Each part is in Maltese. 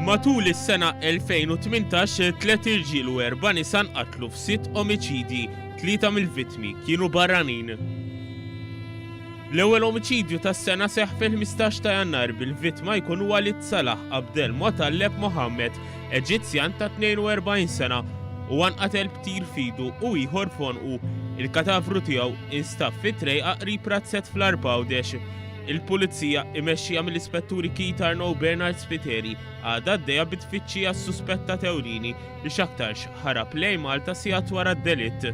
Matul is-sena 2018, tliet irġiel u erba' nisa nqatlu f'sitt omiċidji, tlieta mill-vittmi kienu barranin. L-ewwel omiċidju tas-sena seħħ fil-15 ta' Jannar bil-vittma jkun Walid Salah Abdel Motalleb Mohammed, Eġizzjan ta' 42 sena, huwa nqatel b'tir f'idu u ieħor f'għonqu. Il-katavru tiegħu instab fi trejqa qrib Razzett fl-Għarb Għawdex. Il-Pulizija, imexxija mill-Ispetturi Keith Arnaud Bernard Spiteri, għadha għaddejja bit-tfittxija għas-suspettat ewlieni li x'aktarx ħarab lejn Malta sigħat wara d-delitt.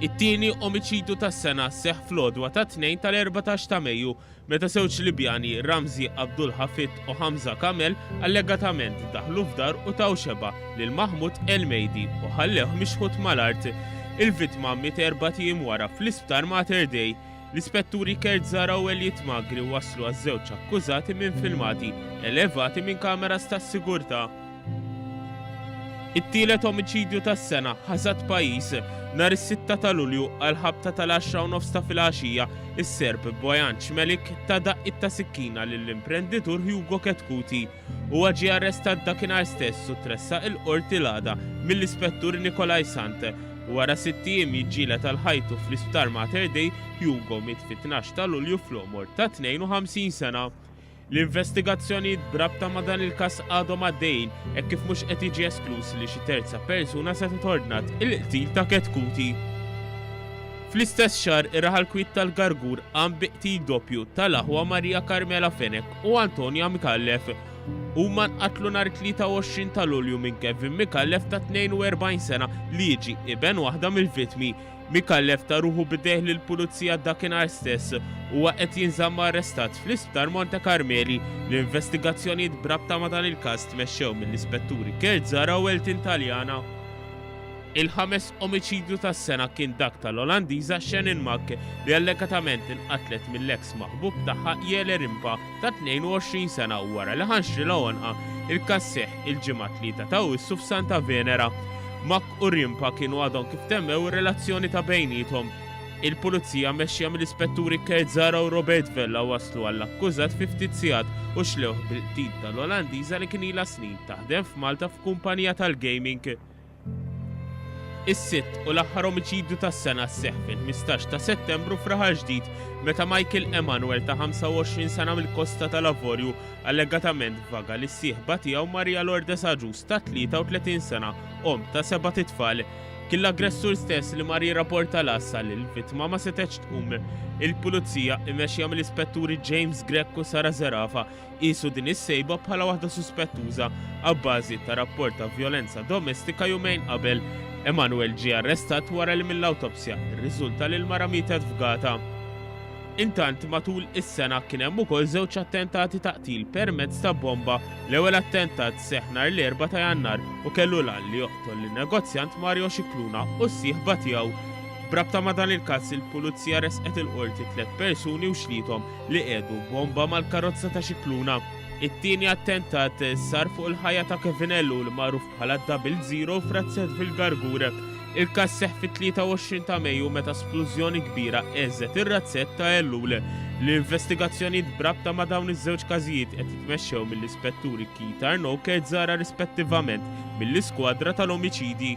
It-tieni omiċidju tas-sena seħħ fl-għodwa tat-Tnejn tal-erbatax ta' Mejju meta żewġ Libjani, Ramzi Abdul Hafid u Hamza Kamel, allegatament daħlu f'dar u taw xebgħa lil Mahmoud Elmeidi u ħallewh mixħut mal-art. Il-vittma miet erbat ijiem wara fl-Isptar Mater Dei. L-Ispetturi Kurt Zara u Elliot Magri waslu għaż-żewġ akkużati minn filmati elevati minn kameras tas-sigurtà. It-tielet omiċidju tas-sena ħasad pajjiż nhar is-sitta ta' Lulju għal ħabta tal-għaxra u nofs ta' filgħaxija, is-Serb Bojan Cmelik ta daqqiet ta' sikkina lill-imprenditur Hugo Chetcuti. Huwa ġie arrestat dakinhar stess u tressaq il-Qorti l-għada mill-Ispettur Nikolai Sant. Wara sitt ijiem jiġġieled għal ħajtu fl-Isptar Mater Dei, Hugo miet fit-tnax ta' Lulju fl-għomor ta' 52 sena. L-investigazzjonijiet b'rabta ma' dan il-każ għadhom għaddejjin hekk kif mhux qed jiġi eskluż li xi terza persuna setgħet ordnat il-qtil ta' Chetcuti. Fl-istess xahar, ir-raħal kwiet tal-Gargur qam bi qtil doppju tal-aħwa Maria Carmela Fenech. u Antonia Micallef. Huma nqatlu nhar 23 ta' Lulju minn Kevin Micallef ta' 42 sena li jiġi iben waħda mill-vittmi. Micallef ta' ruħu bidejh lil pulizija dakinhar stess. Huwa qed jinżamm arrestat fl-Isptar Monte Karmeli. L-investigazzjonijiet b'rabta ma' dan il-każ tmexxew mill-Ispetturi Kurt Zara u Elton Taljana. Il-ħames omiċidju tas-sena kien dak tal-Olandiża Shannon Mack li allegatament inqatlet mill-eks maħbub tagħha Jelle Rimpa ta' 22 sena wara li ħa nxrilha għonqha. Il-każ seħħ il-Ġimgħa t-Tlieta ta' Awwissu f'Santa Venera. Mack u Rimpa kienu għadhom kif temmew ir-relazzjoni ta' bejniethom. Il-Pulizija mmexxija mill-Ispetturi Kurt Zahra u Robert Vella waslu għall-akkużat fi ftit sigħat u xlewh bil-qtil tal-Olandiża li kien ilha snin taħdem f'Malta f'kumpanija tal-gaming. Is-sitt u l-aħħar omiċidju tas-sena sseħħ fil-15 ta' Settembru f'Raħal Ġdid meta Michael Emanuel ta' 25 sena mill-Kosta tal-Avorju allegatament vaga lis sieħba tiegħu Maria Lourdes Aġus ta' 33 sena omm ta' seba' titfal. Kien l-aggressur stess li mar jirrapporta l-għassa li l-vittma ma setgħetx tqum. Il-Pulizija, imexxija mill-Ispetturi James Grech u Sara Zerafa, Qiesu din is-sejba bħala waħda suspettuża abbażi ta' rapport ta' vjolenza domestika jumejn qabel. Emanuel ġie arrestat wara li mill-awtopsja rriżulta li l-mara mietet fgata. Intant, matul is-sena kien hemm ukoll żewġ attentati ta' qtil permezz ta' bomba. L-ewwel attentat seħħ nhar l-Erbgħa ta' Jannar u kellu l-għan li joqtol lin-negozjant Mario Scicluna u s-sieħba tiegħu. B'rabta ma' dan il-każ, il-Pulizija ressqet il-Qorti tliet persuni u xliethom li qiegħdu bomba mal-karozza ta' Scicluna. It-tieni attentat sar fuq il-ħajja ta' Kevin Ellu li magħruf bħala Double Zero f'Razzett fil-Gargur. Il-każ seħħ fit-23 ta' Mejju meta splużjoni kbira eżet ir-razzett ta' Ellul. L-investigazzjonijiet brabta ma' dawn iż-żewġ każijiet qed jitmexxew mill-Ispetturi Keith Arnaud Kerzara rispettivament mill-Iskwadra tal-Omiċidji.